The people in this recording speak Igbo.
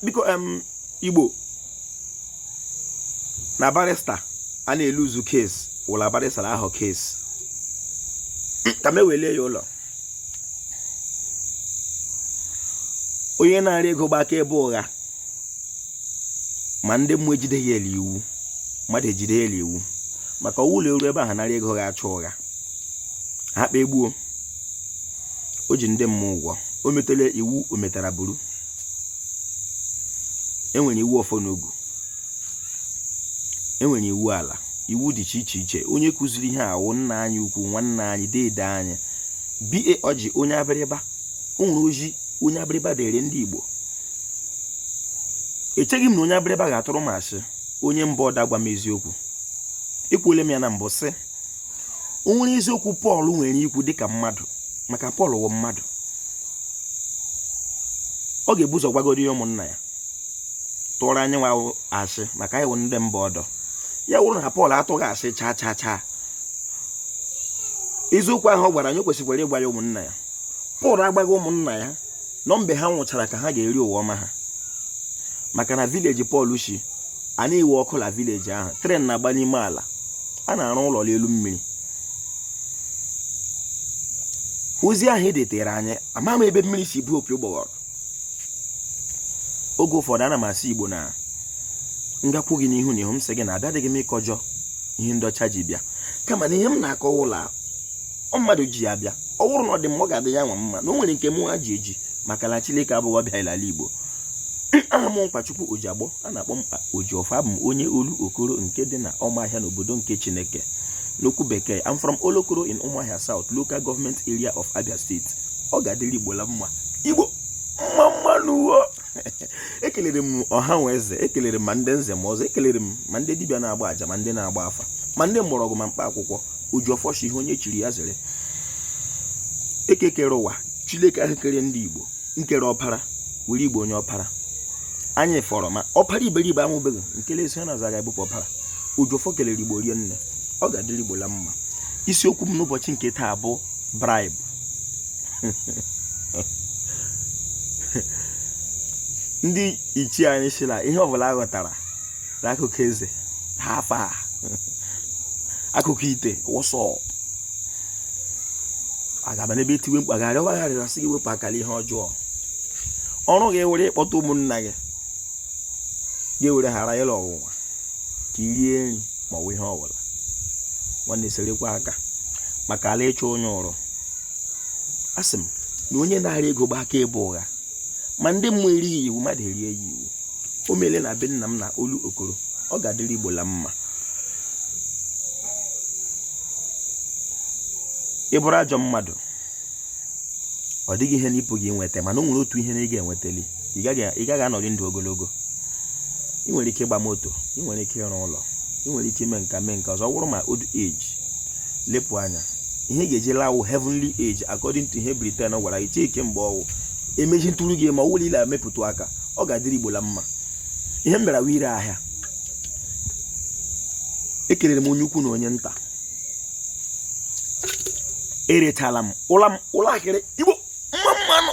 biko em igbo na barista a na-eluzu case wụ la barista na-ahọ case ka m wele ya ụlọ onye narị ego gba akaebe ụgha ma ndị mmụọ ejide ya l'iwu mmadụ ejide ya l'iwu maka ọ wụ la e ru ebe ahụ narị ego ga-achọ ụgha ha kpa egbuo o ji ndị mmụọ ụgwọ o metala iwu o metara buru enwere iwu ọfọ na ogu enwere iwu ala iwu dị iche iche iche onye kụziri ihe a wụ nna anyị ukwu nwanne anyị deede anyị BA Ọjị onye abịrịba o nwere ozi onye Abịrịba deere ndị Igbo echeghị m na onye abịrịba ga-atụrụ m asị onye mba ọdọ agwa m eziokwu ekwuole m ya na mbụ sị o nwere eziokwu Pọl nwere ikwu dịka mmadụ maka Pọl wụ mmadụ ọ ga-ebu ụzọ gwagodu ya ụmụnna ya tụọrọ anyịnwa asị maka anyị wụ ndị mba ọdọ ya wụrụ na Pọl atụghị asị chaa chaa chaa eziokwu ahụ ọ gwara anyị kwesịkwara ịgwa ya ụmụnna ya Pọl agwaghị ụmụnna ya na ọ mgbe ha nwụchara ka ha ga-eri ụwa ọma ha maka na vileji Pọl si a na-enwe ọkụ na vileji ahụ tren na-agba n'ime ala a na-arụ ụlọ n'elu mmiri ozi ahụ edetere anyị ama m ebe mmiri si baa opi ụgbọghọrọ oge ụfọdụ ana m asị igbo na m gakwu gị n'ihu na ihu m sị gị na abịadịghị m ịkọjọ ihe ndị ọcha ji bịa kama na ihe m na-akọ wụ la mmadụ ji ihe bịa ọ bụrụ na ọ dị mma ọ ga-adị yanwa mma na o nwere nke mụnwa ji eji maka na Chineke abụghị ọbịa ala Igbo aha m Mkpachukwu Ojiagbọ a na-akpọ m Ojiọfọ abụ m onye Olokoro nke dị na Ọmahịa n'obodo nke Chineke n'okwu bekee I'm from Olokoro in Ụmụahịa South local government area of Abia State ọ ga-adịrị Igbo la mma Igbo mma mma nụ ekelere m ọha na eze ekelere m ma ndị nze ma ọzọ ekelere m ma ndị dibịa na-agba aja ma ndị na-agba afa ma ndị mgbọrọgwụ ma mkpa akwụkwọ Ojiọfọ shi ihe onye chiri ya zere Eke kere ụwa Chineke ahụ kere ndị Igbo nkere ọpara were igbo onye ọpara anyị wụrụ ma ọpara iberibe a mụbeghị nke la-esi n'azụ ga-ebupụ ọpara Ojiọfọ kelere igbo rinne ọ ga-adịrị igbo la mma isiokwu m n'ụbọchị nke taa bụ bribe ndị ichie anyị sị la ihe ọbụla a ghọtara na akụkọ eze ha afa akụkọ ite wọsọ agaba n'ebe etiwe mkpa garị ọwa gharịrị asị gị wepụ aka n'ihe ọjọọ ọrụ gị were ịkpọta ụmụnna gị gị were ghara ịlụ ọnwụnwa ka i rie nri ma ọ bụ ihe ọbụla nwanne serekwa aka maka ala ịchụ onye ọrụ asị m na onye nara ego gbaa akaebe ụgha ma ndị mmụọ erighị iwu mmadụ erie ya iwu o meele na be nna m na olu okoro ọ ga-adịrị igbo la mma ị bụrụ ajọ mmadụ ọ dịghị ihe na ị pụghị nweta mana o nwere otu ihe na ị ga-enwetali ị gaghị anọrị ndụ ogologo ị nwere ike ịgba moto ị nwere ike ịrụ ụlọ ị nwere ike ime nke a mee nke ọzọ ọ bụrụ ma old age lepụ anya ihe ga-eji lawụ heavenly age according to ihe Britain gwara gị chike mgbe ọwụ emechi ntụrụ gị ma ọ wụrụ ile emepụta aka ọ ga-adịrị Igbo la mma ihe m bịara wụ ire ahịa ekelere m onye ukwu na onye nta erechala m ụla m ụlọ akịrị Igbo mma mma nụ